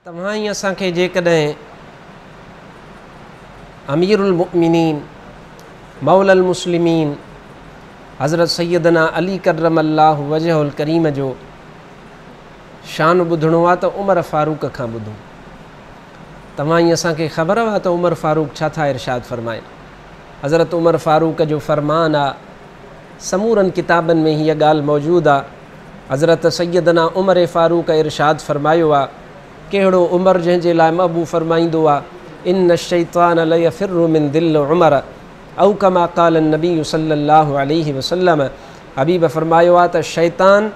توهان ئي اسان کي جيڪڏهن امير المؤمنين موليٰ المسلمين حضرت سيدنا علي ڪرم الله وجهه الڪريم جو شان ٻڌڻو آ ته عمر فاروق کان ٻڌون توهان ئي اسان کي خبر آ ته عمر فاروق ڇا ٿا ارشاد فرمائن حضرت عمر فاروق جو فرمان آ سمورن ڪتابن ۾ هيء ڳالهه موجود آ. حضرت سيدنا عمر فاروق ارشاد فرمايو آ، ڪهڙو عمر جنهن جي لاء محبوب فرمائيندو آ، ان الشيطان ليفر من ظل عمر او ڪما قال النبي صلّي الله عليه وسلّم حبيب فرمايو آ ته شيطان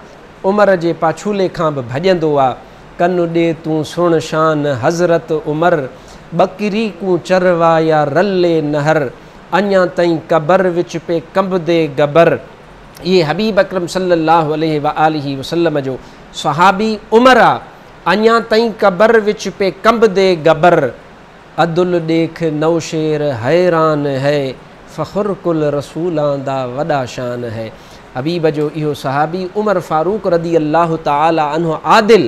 عمر جي پاڇولي کان به ڀڄندو آ. ڪن ڏي تون سڻ شان حضرت عمر، ٻڪري ڪون چروايا رلي نهر. اڃا تائين قبر وچ پئي ڪنبدي گبر اهي حبيب اڪرم صلي الله عليه واٰله وسلم جو صحابي عمر آ اڃا تائين قبر وچ پئي ڪنبدي گبر ادل ڏيک نوشير حيران هئ فخر ڪل رسولان دا وڏا شان هئ حبيب جو اهو صحابي عمر فاروق رضي الله تعالٰي عنه عادل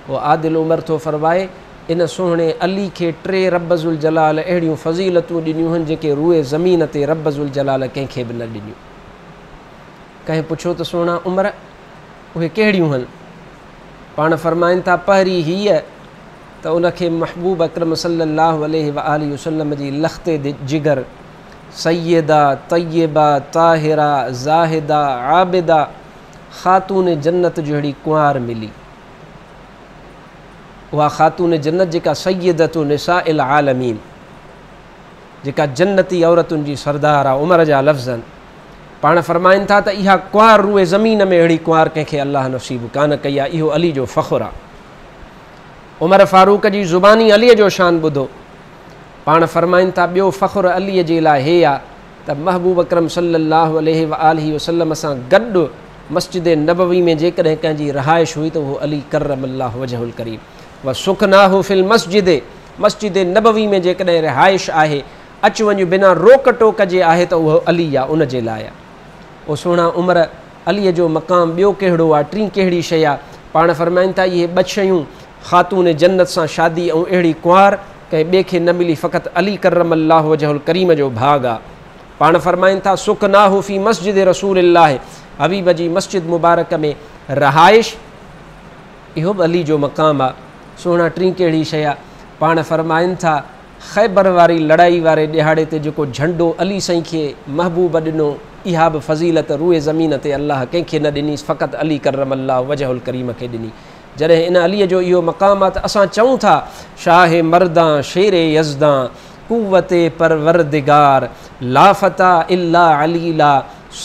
هو عادل عمر ٿو فرمائي ان سهڻي علي کي ٽي رب ذوالجلال اهڙيون فضيلتون ڏنيون هن جيڪي روئي زمين تي رب ذوالجلال ڪنهن کي به نه ڏنيون. ڪنهن پڇيو ته سهڻا عمر اهي ڪهڙيون هن؟ پاڻ فرمائن ٿا پهرين هيء ته ان کي محبوب اڪرم صلي الله عليه وآله وسلم جي لختي جگر سيده، طيبه، طاهره، زاهده، عابده، خاتون جنت جهڙي ڪنوار ملي. اها خاتون جنت جيڪا سيدة نساء العالمين جيڪا جنتي عورتن جي سردار آ عمر جا لفظن پاڻ فرمائن ٿا ته اها ڪنوار روئي زمين ۾ اهڙي ڪنوار ڪنهن کي الله نصيب ڪانه ڪئي آ اهو علي جو فخر آ عمر فاروق جي زباني علي جو شان ٻڌو پاڻ فرمائن ٿا ٻيو فخر علي جي لاء هي آ ته محبوب اڪرم صلّي اللّٰه عليه واٰله وسلّم سان گڏ مسجد نبوي ۾ جيڪڏهن ڪنهن جي رهائش هئي ته اهو علي ڪرّم اللّٰه وجهه الڪريم وسڪناه في المسجد مسجد نبوي ۾ جيڪڏهن رهائش آهي، اچ وڃ بنا روڪ ٽوڪ جي آهي ته اهو علي آ ان جي لاء آ. او سهڻا عمر! عليء جو مقام ٻيو ڪهڙو آ؟ ٽين ڪهڙي شيء آ؟ پاڻ فرمائن ٿا، اهي ٻه شيون خاتون جنت سان شادي ۽ اهڙي ڪنوار ڪنهن ٻئي کي نه ملي فقط علي ڪرم الله وجهه الڪريم جو ڀاڳ آ. پاڻ فرمائن ٿا سڪناه في مسجد رسول الله حبيب جي مسجد مبارڪ ۾ رهائش اهو به علي جو مقام آ. سهڻا ٽين ڪهڙي شيء آ. پاڻ فرمائن ٿا خيبر واري لڙائي واري ڏهاڙي تي جيڪو جهنڊو علي سائين کي محبوب ڏنو اها به فضيلت روئي زمين تي الله ڪنهن کي نه ڏني فقط علي ڪرم الله وجهه الڪريم کي ڏني. جڏهن ان عليء جو اهو مقام آ ته اسان چئون ٿا، شاهه مردان شير يزدان قوت پروردگار لا فتيٰ الا علي لا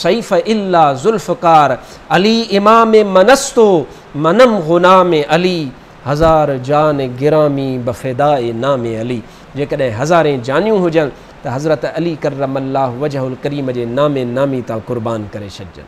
سيف الا ذوالفقار علي امام من است و منم غلام علي هزار جان گرامي بفداء نام علي جيڪڏهن هزارين جانيون هجن ته حضرت علي ڪرم الله وجهه الڪريم جي نام نامي تان قربان ڪري ڇڏجن.